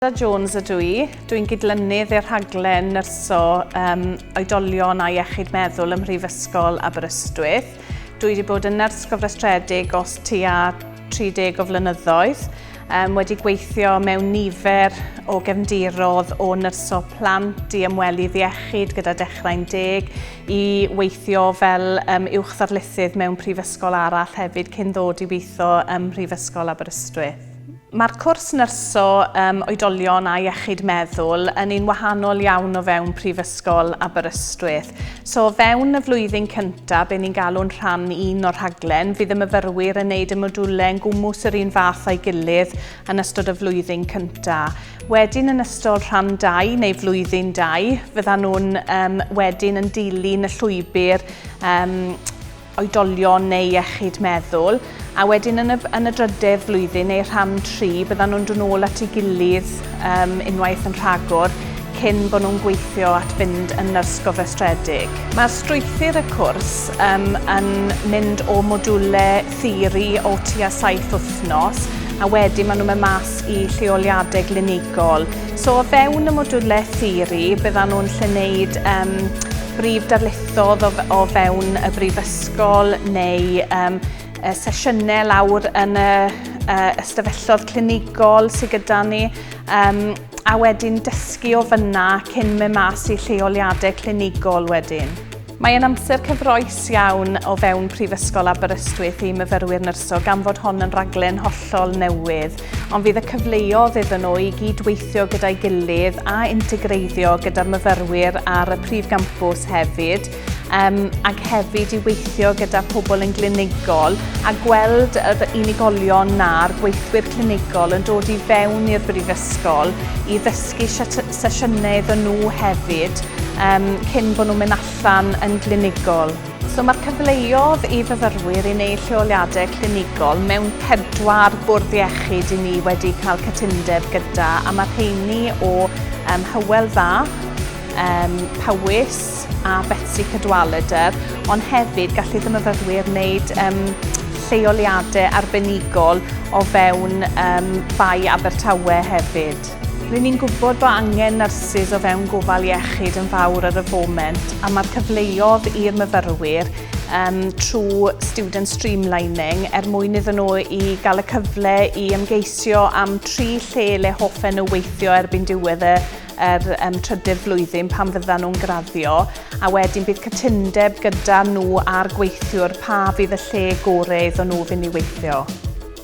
Linda Jones ydw i. Dw i'n gydlynydd i'r rhaglen nyrsio um, oedolion a iechyd meddwl ym Mhrifysgol Aberystwyth. Dw i wedi bod yn nyrs gofrestredig os tua 30 o flynyddoedd, um, wedi gweithio mewn nifer o gefndirodd o nyrsio plant i ymwelu ddiechyd gyda dechrau'n deg, i weithio fel um, uwch ddarlithydd mewn prifysgol arall hefyd cyn ddod i weithio ym Mhrifysgol Aberystwyth. Mae'r cwrs nyrsio um, oedolion a iechyd meddwl yn un wahanol iawn o fewn Prifysgol Aberystwyth. So o fewn y flwyddyn cyntaf, be ni'n galw'n rhan un o'r rhaglen, fydd y myfyrwyr yn wneud y modiwlau yn gwmws yr un fath o'i gilydd yn ystod y flwyddyn cyntaf. Wedyn yn ystod rhan 2 neu flwyddyn 2, fyddan nhw'n um, wedyn yn dilyn y llwybr um, oedolion neu iechyd meddwl, a wedyn yn y, yn y drydedd flwyddyn neu rhan tri, byddan nhw'n dod nôl at ei gilydd um, unwaith yn rhagor cyn bod nhw'n gweithio at fynd yn nyrs gofrestredig. Mae'r strwythur y cwrs um, yn mynd o modiwle theori o tua saith wythnos a wedyn maen nhw'n mynd mas i lleoliadau glinigol. So o fewn y modiwle theori byddan nhw'n lle wneud um, brif darlithiau dod o, o fewn y brifysgol neu um, sesiynau lawr yn y uh, ystafelloedd clinigol sydd gyda ni um, a wedyn dysgu o fyna cyn mynd mas i lleoliadau clinigol wedyn. Mae yn amser cyfroes iawn o fewn Prifysgol Aberystwyth i myfyrwyr nyrsio gan fod hon yn raglen hollol newydd. ond fydd y cyfleodd iddyn nhw i gyd-weithio gyda'i gilydd a integreiddio gyda'r myfyrwyr ar y prif gampws hefyd, um, ac hefyd i weithio gyda pobl yn glinigol a gweld yr unigolion na'r gweithwyr clinigol yn dod i fewn i'r brifysgol i ddysgu sesiynau iddyn nhw hefyd um, cyn bod nhw'n mynd allan yn glinigol. So mae'r cyfleodd i fyfyrwyr i wneud lleoliadau clinigol mewn pedwar bwrdd iechyd i ni wedi cael cytundeb gyda a mae rheini o um, Hywel Dda, um, Powys a Betsy Cadwaladr, ond hefyd gallu ddim myfyrwyr wneud um, lleoliadau arbenigol o fewn um, Bai Abertawe hefyd. Rŷn ni'n gwybod bod angen nyrsys o fewn gofal iechyd yn fawr ar y foment a mae'r cyfleodd i'r myfyrwyr um, trwy student streamlining er mwyn iddyn nhw i gael y cyfle i ymgeisio am tri lle le hoffen nhw weithio erbyn diwedd y yr um, trydydd flwyddyn pan fyddan nhw'n graddio a wedyn bydd cytundeb gyda nhw a'r gweithiwr pa fydd y lle gorau iddyn nhw fynd i weithio.